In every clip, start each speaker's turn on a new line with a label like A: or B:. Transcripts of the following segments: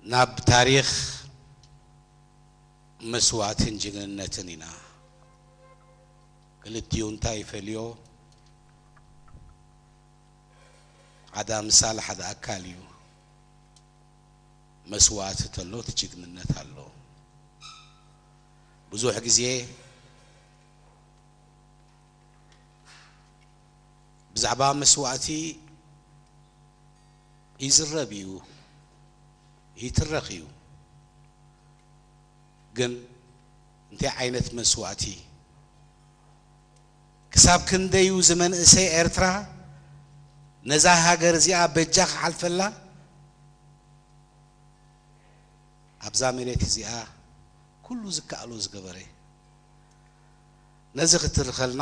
A: ናብ ታሪኽ መስዋእትን ጅግንነትን ኢና። ክልቲኡ እንታይ ይፈልዮ? ሓደ ኣምሳል ሓደ ኣካል እዩ። መስዋእቲ ተሎ እቲ ጅግንነት ኣሎ። ብዙሕ ግዜ ብዛዕባ መስዋእቲ ይዝረብ እዩ ይትረኽ እዩ ግን እንታይ ዓይነት መስዋእቲ ክሳብ ክንደዩ ዝመንእሰይ ኤርትራ ነዛ ሃገር እዚኣ በጃ ክሓልፈላ ኣብዛ መሬት እዚኣ ኩሉ ዝከኣሎ ዝገበረ ነዚ ክትርከልና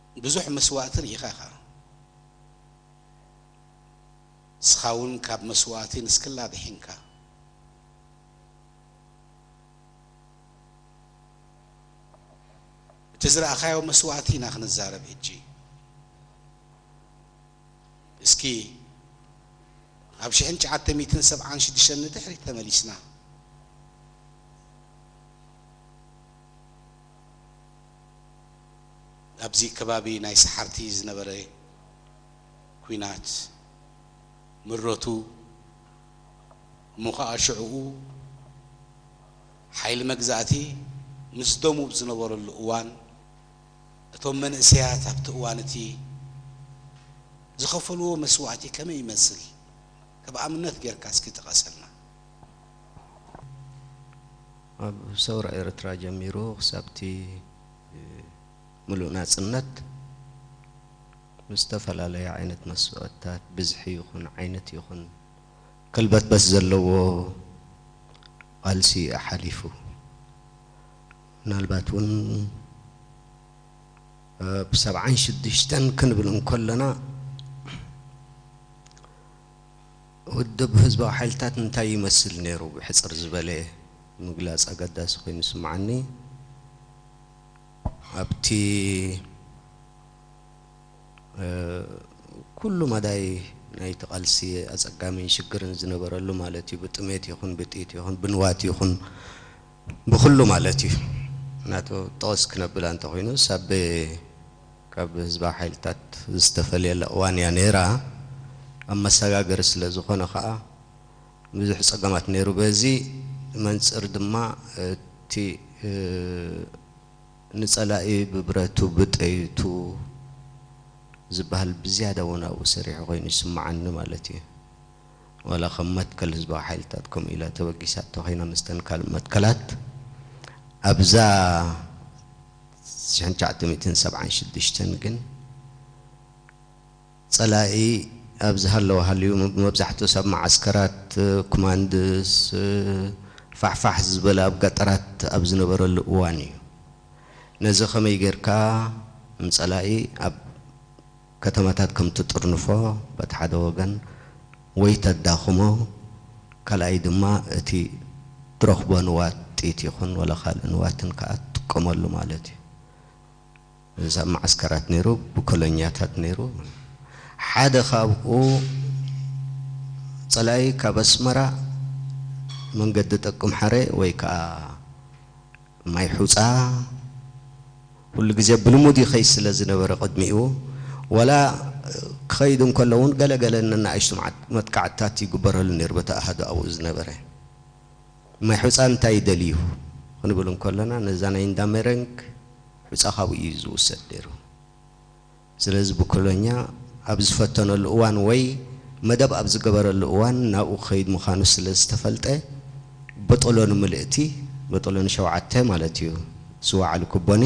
A: ብዙሕ መስዋእቲ ርኢኻ ኢኻ። ንስኻውን ካብ መስዋእቲ ንስክላ ኣድሒንካ። እቲ ዝረኣኻዮ መስዋእቲ ኢና ክንዛረብ ሕጂ። እስኪ ናብ ሽሕን ትሽዓተ ሚእትን ሰብዓን ሽዱሽተን ንድሕሪት ተመሊስና። ኣብዚ ከባቢ ናይ ሰሓርቲ ዝነበረ ኩናት ምረቱ እሞ ከኣ ሽዕኡ ሓይሊ መግዛእቲ ምስ ደሙብ ዝነበረሉ እዋን እቶም መንእሰያት ኣብቲ እዋን እቲ ዝኸፈልዎ መስዋእቲ ከመይ ይመስል ከብ ኣብነት ጌርካ እስኪ ጥቐሰልና።
B: ኣብ ሰውራ ኤርትራ ጀሚሩ ክሳብቲ። ምሉእ ናጽነት ምስ ዝተፈላለዩ ዓይነት መስዋእትታት ብዝሒ ይኹን ዓይነት ይኹን ከልበትበት ዘለዎ ቃልሲ እዩ ሓሊፉ። ምናልባት እውን ኣብ ሰብዓን ሽዱሽተን ክንብል እንከለና፣ ውድብ ህዝባዊ ሓይልታት እንታይ ይመስል ነይሩ ብሕጽር ዝበለ ምግላጽ ኣገዳሲ ኮይኑ ይስምዓኒ። ኣብቲ ኩሉ መዳይ ናይቲ ቃልሲ ኣጸጋሚን ሽግርን ዝነበረሉ ማለት እዩ ብጥሜት ይኹን ብጥይት ይኹን ብንዋት ይኹን ብኹሉ ማለት እዩ ናቱ ጠቕስ ክነብል ኣንተኹይኑ ሳቤ ካብ ህዝባዊ ሓይልታት ዝተፈልየላ እዋን እያ ነይራ። ኣብ መሰጋገሪ ስለ ዝኾነ ከኣ ብዙሕ ጸገማት ነይሩ። በዚ መንጽር ድማ እቲ ንጸላኢ ብብረቱ ብጠይቱ ዝበሃል ብዝያዳ ወናኡ ሰሪሑ ኮይኑ ይስመዓኒ ማለት እዩ። ዋላ ከም መትከል ህዝባዊ ሓይልታት ከምኡ ኢላ ተበጊሳ እንተኾይና ምስተን ካልእ መትከላት ኣብዛ ሽሕን ትሽዓተ ሚእትን ሰብዓን ሽዱሽተን ግን ጸላኢ ኣብ ዝሃለወ ሃልዩ መብዛሕትኡስ ኣብ መዓስከራት ኩማንድስ ፋሕፋሕ ዝበለ ኣብ ገጠራት ኣብ ዝነበረሉ እዋን እዩ። ነዚ ከመይ ጌርካ ንጸላኢ ኣብ ከተማታት ከም ትጥርንፎ በቲ ሓደ ወገን ወይ ተዳኽሞ ካልኣይ ድማ እቲ ትረኽቦ ንዋት ጥይት ይኹን ወላ ካልእ ንዋትን ከኣ ትጥቀመሉ ማለት እዩ። እዚ ኣብ መዓስከራት ነይሩ ብኮሎኛታት ነይሩ ሓደ ካብኡ ጸላኢ ካብ ኣስመራ መንገዲ ጠቅምሓረ ወይ ከኣ ማይ ሑጻ ኩሉ ግዜ ብልሙድ ይኸይድ ስለ ዝነበረ ቅድሚኡ ዋላ ክኸይድ እንከሎ እውን ገለ ገለ ነናኣሽቱ መጥቃዕትታት ይግበረሉ ነይሩ በቲ ኣሃዱ ኣብኡ ዝነበረ። ማይ ሑጻ እንታይ ይደልዩ ክንብል እንከሎና ነዛ ናይ እንዳ ሜረንግ ሑጻ ካብኡ እዩ ዝውሰድ ነይሩ። ስለዚ ብኮሎኛ ኣብ ዝፈተነሉ እዋን ወይ መደብ ኣብ ዝገበረሉ እዋን ናብኡ ክኸይድ ምዃኑ ስለ ዝተፈልጠ በጦሎ ንምልእቲ፣ በጦሎ ንሸውዓተ ማለት እዩ፣ ዝወዓሉ ኩቦኒ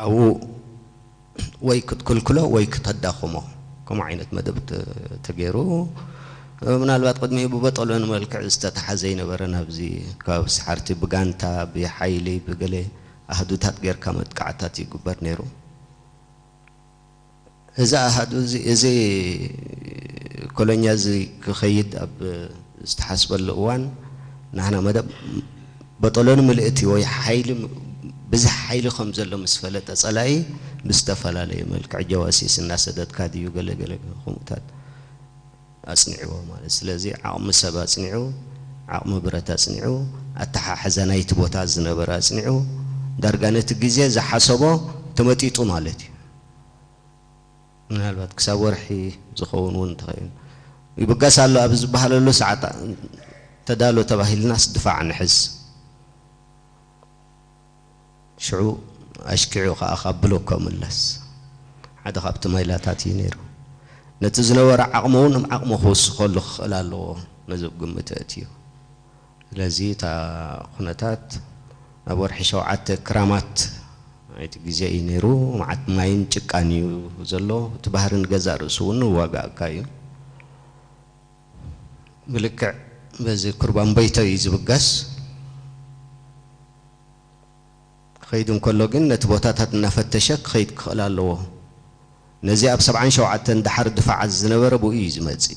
B: ኣብኡ ወይ ክትክልክሎ ወይ ክተዳኽሞ ከምኡ ዓይነት መደብ ተገይሩ ምናልባት ቅድሚኡ ብበጦሎ ንመልክዕ ዝተተሓዘ ይነበረ ናብዚ ከባቢ ሰሓርቲ ብጋንታ ብሓይሊ ብገለ ኣሃዱታት ጌርካ መጥቃዕትታት ይግበር ነይሩ። እዚ ኣሃዱ እዚ እዚ ኮሎኛ እዚ ክኸይድ ኣብ ዝተሓስበሉ እዋን ናህና መደብ በጦሎኒ ምልእቲ ወይ ሓይሊ ብዝሕ ሓይሊ ከም ዘሎ ምስ ፈለጠ ጸላኢ ብዝተፈላለየ መልክዕ ጀዋሲስ እናሰደድካ ድዩ ገለ ገለ ከምኡታት ኣጽኒዕዎ ማለት ስለዚ ዓቕሚ ሰብ ኣጽኒዑ፣ ዓቕሚ ብረት ኣጽኒዑ፣ ኣተሓሕዛ ናይቲ ቦታ ዝነበረ ኣጽኒዑ፣ ዳርጋ ነቲ ግዜ ዝሓሰቦ ተመጢጡ ማለት እዩ። ምናልባት ክሳብ ወርሒ ዝኸውን እውን እንተኸይኑ ይብገስ ኣሎ ኣብ ዝበሃለሉ ሰዓት ተዳሎ ተባሂልናስ ድፋዕ ንሕዝ። ሽዑ ኣሽኪዑ ከኣ ካብ ብሎኮ ምለስ ሓደ ካብቲ ማይላታት እዩ ነይሩ። ነቲ ዝነበሮ ዓቕሚ'ውን ብ ዓቕሙ ክውስኸሉ ክኽእል ኣለዎ ነዚ ብ ግምት ኣእትዩ። ስለዚ እታ ኩነታት ኣብ ወርሒ ሸውዓተ ክራማት ናይቲ ግዜ እዩ ነይሩ። መዓት ማይን ጭቃን እዩ ዘሎ። እቲ ባህሪ ንገዛእ ርእሱ'ውን ይዋጋኣካ እዩ። ብልክዕ በዚ ኩርባምበይቶ እዩ ዝብገስ። ክኸይድ እንከሎ ግን ነቲ ቦታታት እናፈተሸ ክኸይድ ክኽእል ኣለዎ። ነዚ ኣብ ሰብዓን ሸውዓተን ደሓር ድፋዓት ዝነበረ ብኡ እዩ ዝመጽእ።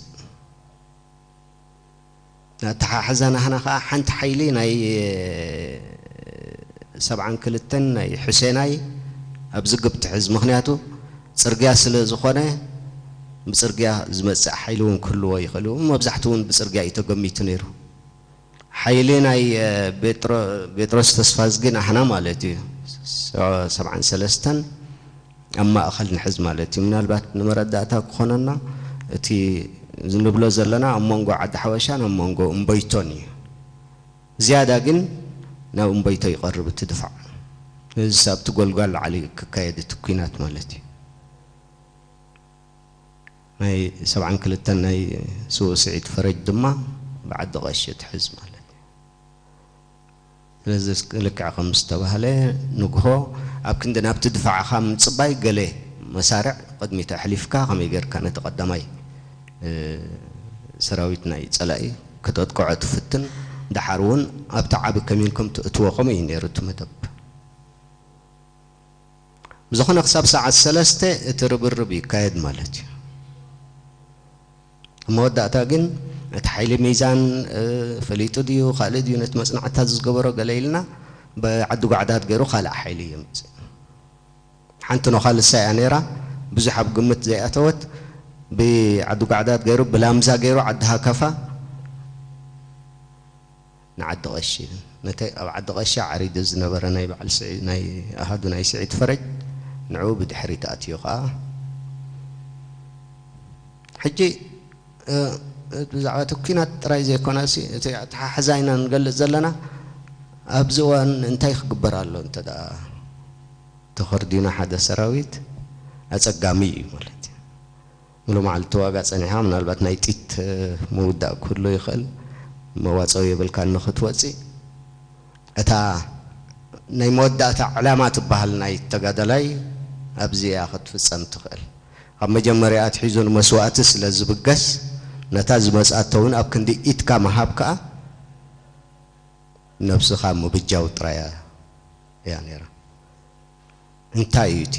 B: ንኣተሓሕዛ ናህና ከኣ ሓንቲ ሓይሊ ናይ ሰብዓን ክልተን ናይ ሑሴናይ ኣብዚ ግብ ትሕዝ። ምኽንያቱ። ጽርግያ ስለ ዝኾነ ብጽርግያ ዝመጽእ ሓይሊ እውን ክህልዎ ይኽእል እዩ። መብዛሕትኡ እውን ብጽርግያ እዩ ተገሚቱ ነይሩ። ሓይሊ ናይ ቤጥሮስ ተስፋዝጊ ናህና ማለት እዩ ሰብዓን ሰለስተን ኣብ ማእኸል ንሕዝ ማለት እዩ። ምናልባት ንመረዳእታ ክኾነና እቲ ንብሎ ዘለና ኣብ መንጎ ዓዲ ሓበሻን ኣብ መንጎ እምበይቶን እዩ። ዝያዳ ግን ናብ እምቦይቶ ይቐርብ እቲ ድፋዕ። ነዚ ኣብቲ ጎልጓል ዓሊ ክካየድ እቲ ኩናት ማለት እዩ። ናይ ሰብዓን ክልተን ናይ ስውእ ስዒድ ፈረጅ ድማ ብዓዲ ቐሺ ትሕዝ ማለት እዩ። ስለዚ ልክዕ ከም ዝተባህለ ንግሆ ኣብ ክንዲ ናብቲ ድፋዕኻ ምጽባይ ገለ መሳርዕ ቕድሚት ኣሕሊፍካ ከመይ ጌርካ ነቲ ቐዳማይ ሰራዊት ናይ ጸላኢ ከተጥቅዖ ትፍትን ደሓር ውን ኣብቲ ዓቢ ከሚን ከም ትእትዎ ከምኡ እዩ ኔሩ እቲ መደብ ብዝኾነ ክሳብ ሰዓት ሰለስተ እቲ ርብርብ ይካየድ ማለት እዩ ኣብ መወዳእታ ግን እቲ ሓይሊ ሚዛን ፈሊጡ ድዩ ካልእ ድዩ ነቲ መጽናዕትታት ዝገበሮ ገለ ኢልና ብዓዲ ጓዕዳድ ጌሩ ካልእ ሓይሊ የምጽእ ሓንቲ ኖኻ ንሳ ኢያ ነይራ ብዙሕ ኣብ ግምት ዘይኣተወት ብዓዱጋዕዳድ ገይሩ ብላምዛ ገይሩ ዓዲ ሃከፋ ንዓዲ ቐሺ ነቲ ኣብ ዓዲ ቐሺ ዓሪዱ ዝነበረ ናይ በዓል ስዒድ ናይ ኣሃዱ ናይ ስዒድ ፈረጅ ንዕኡ ብድሕሪት ኣትዩ ከኣ ሕጂ እቲ ብዛዕባ እቲ ኲናት ጥራይ ዘይኮነሲ እቲ ኣተሓሕዛ ኢና ንገልጽ ዘለና ኣብዚ እዋን እንታይ ክግበር ኣሎ እንተ ተኸርዲኑ ሓደ ሰራዊት ኣጸጋሚ እዩ ማለት እዩ። ሙሉእ መዓልቲ ትዋጋእ ጸኒሕኻ ምናልባት ናይ ጢት ምውዳእ ክህሉ ይኽእል መዋጸዊ የብልካን ንኽትወጺእ። እታ ናይ መወዳእታ ዕላማ ትበሃል ናይ ተጋዳላይ ኣብዚ እያ ክትፍጸም ትኽእል። ካብ መጀመርያ ኣትሒዙ ንመስዋእቲ ስለ ዝብገስ ነታ ዝመጽኣቶ ውን ኣብ ክንዲ ኢድካ ምሃብ ከኣ ነብስኻ ምብጃው ጥራይ እያ። እያ ነይራ። እንታይ እዩ እቲ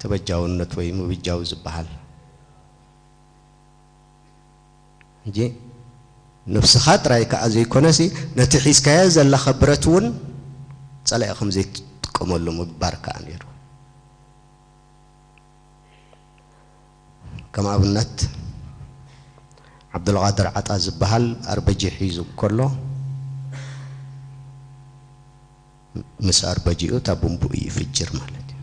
B: ተበጃውነት ወይ ምብጃው ዝበሃል? ሕጂ ነብስኻ ጥራይ ከኣ ዘይኮነሲ ነቲ ሒዝካዮ ዘለኻ ብረት እውን ጸላኢ ከም ዘይትጥቀመሉ ምግባር ከኣ ነይሩ። ከም ኣብነት ዓብዱልቓድር ዓጣ ዝበሃል ኣርበጂ ሒዙ እንከሎ ምስ ኣርበጂኡ እታ ቡምብኡ ይፍጅር ማለት እዩ።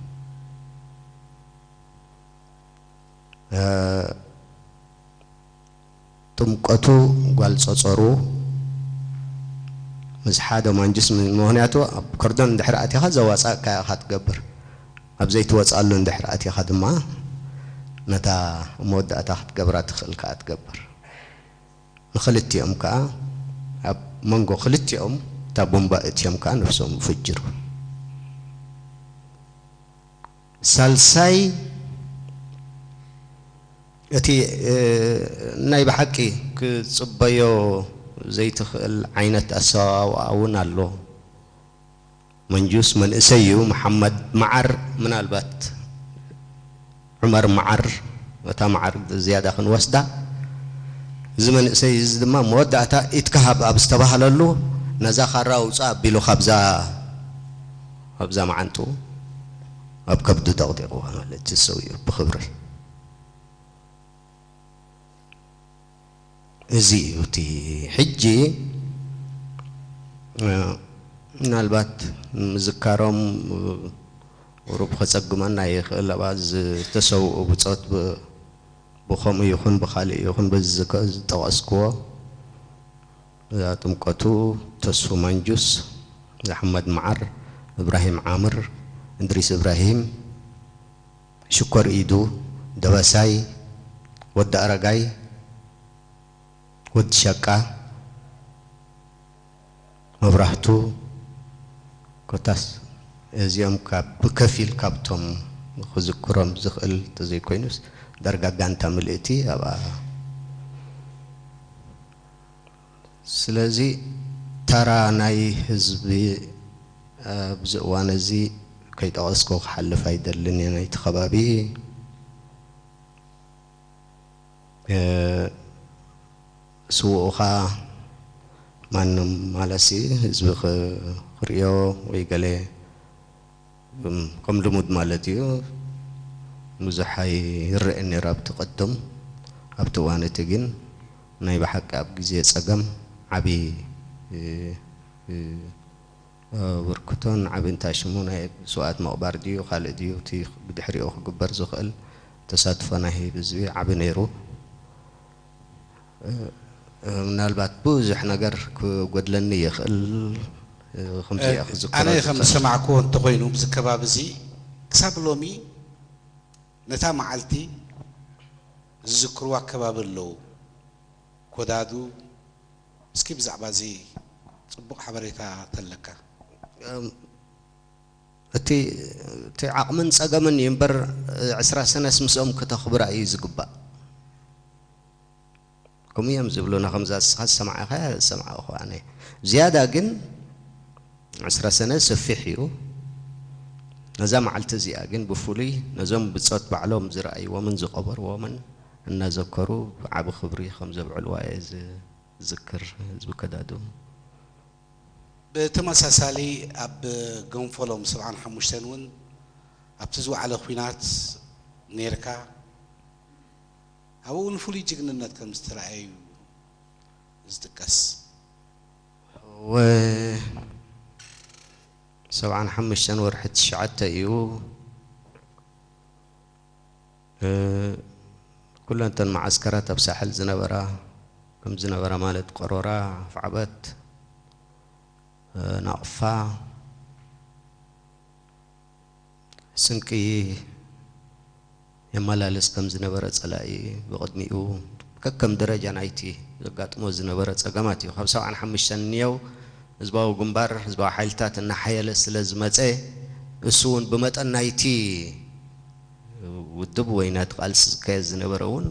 B: ጥምቀቱ ጓል ጸጸሩ ምስ ሓደ ማንጁስ ምክንያቱ ኣብ ኮርዶን እንድሕር ኣቲኻ ዘዋጻእካያ ኢኻ ትገብር ኣብ ዘይትወጻሉ እንድሕር ኣቲኻ ድማ ነታ ኣብ መወዳእታ ክትገብራ ትኽእል ከኣ ትገብር ንኽልቲኦም ከኣ ኣብ መንጎ ክልቲኦም እታ ቡምባ እትዮም ከኣ ነፍሶም ይፍጅሩ። ሳልሳይ እቲ ናይ ብሓቂ ክትጽበዮ ዘይትኽእል ዓይነት ኣሰዋውኣ እውን ኣሎ። መንጁስ መንእሰይ እዩ፣ መሓመድ መዓር ምናልባት ዑመር መዓር እታ መዓር ዝያዳ ክንወስዳ፣ እዚ መንእሰይ እዚ ድማ መወዳእታ ኢድካ ሃብ ኣብ ዝተባህለሉ ነዛ ካራ ኣውጽእ ኣቢሉ ካብዛ፣ ኣብዛ መዓንጥኡ ኣብ ከብዱ ደቕዲቕዋ ማለት ተሰዊኡ ብኽብሪ። እዚ እዩ እቲ ሕጂ ምናልባት ንምዝካሮም ቁሩብ ከጸግመና ይኽእል ኣብኣ ዝተሰውኡ ብጾት ብኸምኡ ይኹን ብኻልእ ይኹን በዚ ዝጠቐስክዎ እዛ ጥምቀቱ ተስፉ ማንጁስ፣ ኣሕመድ መዓር፣ እብራሂም ዓምር፣ እድሪስ እብራሂም፣ ሽኮር ኢዱ፣ ደበሳይ፣ ወዲ ኣረጋይ፣ ወዲ ሸቃ፣ መብራህቱ ኮታስ እዚኦም ካብ ብከፊል ካብቶም ክዝክሮም ዝኽእል ተዘይኮይኑስ ዳርጋ ጋንታ ምልእቲ ኣብኣ ስለዚ ተራ ናይ ህዝቢ ኣብዚ እዋን እዚ ከይጠቐስኩ ክሓልፍ ኣይደልን እየ። ናይቲ ከባቢ ስውኡኻ ማንም ማለትሲ ህዝቢ ክርእዮ ወይ ገለ ከም ልሙድ ማለት እዩ ብዙሕ ኣይረኤን ነይሩ ኣብቲ ቀደም ኣብቲ እዋን እቲ ግን ናይ ብሓቂ ኣብ ግዜ ጸገም ዓቢ ኣበርክቶን ዓቢ እንታይ ሽሙ ናይ ስውኣት ምቕባር ድዩ ካልእ ድዩ እቲ ብድሕሪኡ ክግበር ዝኽእል ተሳትፎ ናይ ህይብ ህዝቢ ዓቢ ነይሩ። ምናልባት ብዙሕ ነገር ክጎድለኒ ይኽእል ኽምዚ እየ ክዝክሮ ዝኽእል። ኣነ ከም ዝሰማዕክዎ
A: እንተኾይኑ ኣብዚ ከባቢ እዚ ክሳብ ሎሚ ነታ መዓልቲ ዝዝክርዋ ከባቢ ኣለው ኮዳዱ እስኪ ብዛዕባ እዚ ጽቡቕ ሓበሬታ ተለካ። እቲ እቲ ዓቕምን ጸገምን እዩ እምበር ዕስራ ሰነስ ምስኦም ክተኽብራ እዩ ዝግባእ ከምኡ እዮም ዝብሉና ከምዛ ንስኻ ዝሰማዕኻያ ዝሰማዕኹ ኣነ ዝያዳ ግን ዕስራ ሰነ ሰፊሕ እዩ ነዛ መዓልቲ እዚኣ ግን ብፍሉይ ነዞም ብጾት ባዕሎም ዝረኣይዎምን ዝቐበርዎምን እናዘከሩ ብዓቢ ክብሪ ከም ዘብዕልዋ እየ ዝዝክር ህዝቢ ከዳዱ ብተመሳሳሊ ኣብ ገንፎሎም ሰብዓን ሓሙሽተን እውን ኣብቲ ዝወዓለ ኲናት ኔርካ፣ ኣብኡ እውን ፍሉይ ጅግንነት ከም ዝተርኣየ እዩ ዝጥቀስ።
B: እወ ሰብዓን ሓሙሽተን ወርሒ ትሽዓተ እዩ። ኩለን እተን መዓስከራት ኣብ ሳሕል ዝነበራ ከም ዝነበራ ማለት ቀሮራ፣ ኣፍዓበት፣ ናቕፋ፣ ስንቂ የመላልስ ከም ዝነበረ ጸላኢ ብቕድሚኡ ከከም ደረጃ ናይቲ ዘጋጥሞ ዝነበረ ጸገማት እዩ። ካብ ሰብዓን ሓሙሽተን ንየው ህዝባዊ ግንባር ህዝባዊ ሓይልታት እናሓየለ ስለ ዝመጸ እሱውን ብመጠን ናይቲ ውድብ ወይ ናይቲ ቃልሲ ዝካየድ ዝነበረ እውን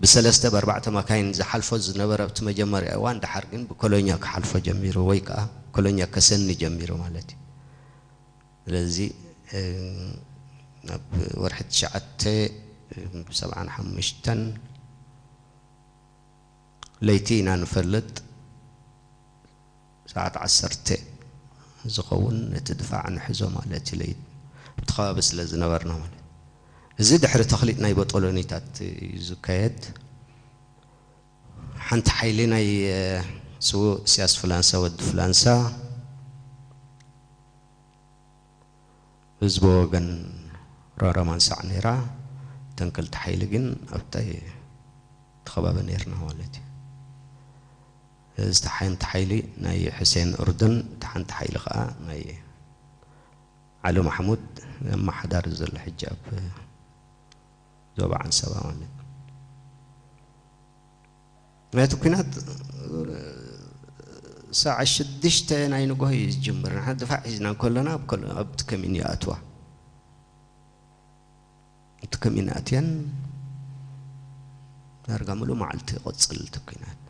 B: ብሰለስተ ብኣርባዕተ ማካይን ዝሓልፎ ዝነበረ ኣብቲ መጀመርያ እዋን ደሓር ግን ብኮሎኛ ክሓልፎ ጀሚሩ ወይ ከኣ ኮሎኛ ከሰኒ ጀሚሩ ማለት እዩ። ስለዚ ኣብ ወርሒ ትሽዓተ ሰብዓን ሓሙሽተን ለይቲ ኢና ንፈልጥ። ሰዓት ዓሰርተ ዝኸውን ነቲ ድፋዕ ንሕዞ ማለት እዩ ለይት ኣብቲ ከባቢ ስለ ዝነበርና ማለት እዩ እዚ ድሕሪ ተኽሊጥ ናይ ቦጦሎኒታት እዩ ዝካየድ ሓንቲ ሓይሊ ናይ ስውእ እስያስ ፍላንሳ ወዲ ፍላንሳ ህዝቦ ወገን ራራ ማንሳዕ ነይራ እተን ክልተ ሓይሊ ግን ኣብታይ እቲ ከባቢ ነይርና ማለት እዩ እታ ሓንቲ ሓይሊ ናይ ሑሴን ኡርዱን እታ ሓንቲ ሓይሊ ከኣ ናይ ዓሊ ማሕሙድ ኣማሓዳሪ ዘሎ ሕጂ ኣብ ዞባ ዓንሰባ ማለት እዩ ናይቲ ኩናት ሳዕ ሽዱሽተ ናይ ንግሆ እዩ ዝጅምር ንሓ ድፋዕ ሒዝና ከሎና ኣብቲ ከሚን ይኣትዋ እቲ ከሚናትየን ዳርጋ ምሉእ መዓልቲ ይቕጽል እቲ ኲናት።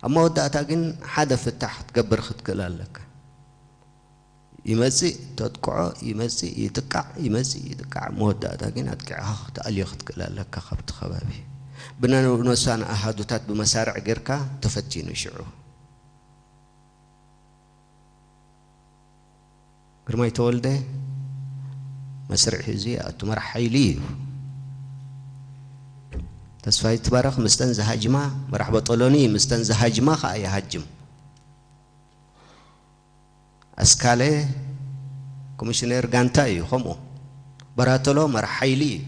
B: ኣብ መወዳእታ ግን ሓደ ፍታሕ ክትገብር ክትክእል ኣለካ። ይመጽእ ተጥቅዖ ይመጽእ ይጥቃዕ ይመጽእ ይጥቃዕ ኣብ መወዳእታ ግን ኣጥቂዕኻ ክትኣልዮ ክትክእል ኣለካ ካብቲ ከባቢ። ብነብነብሳን ኣሃዱታት ብመሳርዕ ጌርካ ተፈቲኑ ሽዑ። ግርማይ ተወልደ መስርዕ ሒዙ ይኣቱ መራሕ ሓይሊ እዩ። ተስፋይ ይትባረኽ ምስተን ዝሃጅማ መራሕ በጦሎኒ እዩ ምስተን ዝሃጅማ ከዓ ይሃጅም። ኣስካለ ኮሚሽነር ጋንታ እዩ ከምኡ በራተሎ መራሕ ሓይሊ እዩ።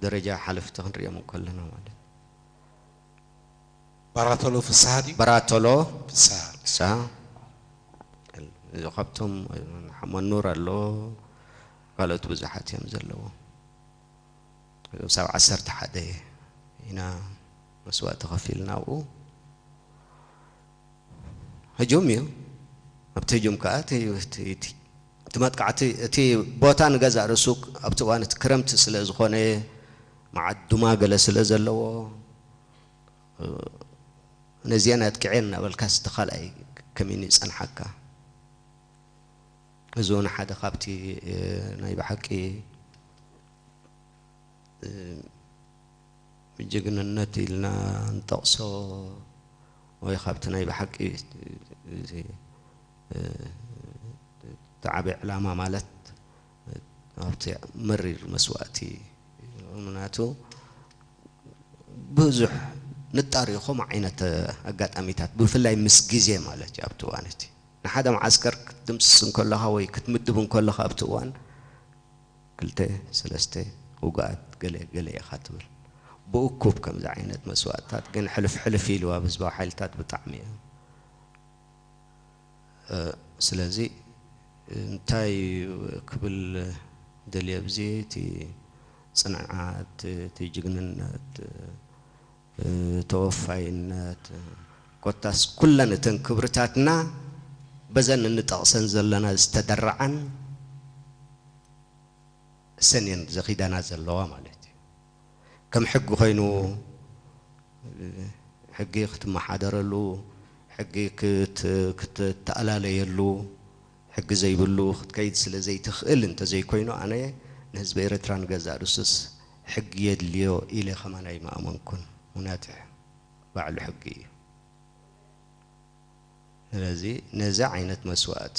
B: ደረጃ ሓለፍቲ ክንሪኦም ከለና ማለት
C: ባራቶሎ ፍስሃ ድዩ? በራቶሎ
B: ፍስሃ። ፍስሃ እዚ ካብቶም ሓመኑር ኣሎ ካልኦት ብዙሓት እዮም ዘለዎ ክሳብ ዓሰርተ ሓደ ኢና መስዋእቲ ከፊልና ኣብኡ ህጁም እዩ ኣብቲ ህጁም ከዓ እቲ መጥቃዕቲ እቲ ቦታ ንገዛእ ርእሱ ኣብቲ እዋን እቲ ክረምቲ ስለ ዝኾነ መዓት ዱማ ገለ ስለ ዘለዎ ነዚኤን ኣጥቂዔን እናበልካስ እቲ ካልኣይ ከመይን ይጸንሓካ? እዚ ውን ሓደ ካብቲ ናይ ብሓቂ ጅግንነት ኢልና ንጠቕሶ ወይ ካብቲ ናይ ብሓቂ እቲ ዓቢ ዕላማ ማለት ኣብቲ መሪር መስዋእቲ ምናቱ ብዙሕ ንጣር ኢኹም ዓይነት ኣጋጣሚታት ብፍላይ ምስ ግዜ ማለት እዩ ኣብቲ እዋን እቲ ንሓደ መዓስከር ክትድምስስ እንከለኻ ወይ ክትምድብ እንከለኻ ኣብቲ እዋን ክልተ ሰለስተ ውጉኣት ገለ ገለ ኢኻ ትብል ብእኩብ ከምዚ ዓይነት መስዋእትታት ግን ሕልፍ ሕልፍ ኢሉ ኣብ ህዝባዊ ሓይልታት ብጣዕሚ እዩ ስለዚ እንታይ እዩ ክብል ደልየ ኣብዚ እቲ ጽንዓት እቲ ጅግንነት ተወፋይነት ኮታስ ኩለን እተን ክብርታትና በዘን እንጠቕሰን ዘለና ዝተደርዓን እሰን እየን ዘኺዳና ዘለዋ ማለት እዩ። ከም ሕጊ ኮይኑ ሕጊ ክትመሓደረሉ፣ ሕጊ ክትተኣላለየሉ፣ ሕጊ ዘይብሉ ክትከይድ ስለ ዘይትኽእል እንተዘይኮይኑ ኣነ ንህዝቢ ኤረትራ ንገዛእ ርእሱስ ሕጊ የድልዮ ኢለ ከማን ኣይምኣመንኩን ምኽንያቱ ባዕሉ ሕጊ እዩ። ስለዚ ነዚ ዓይነት መስዋእቲ።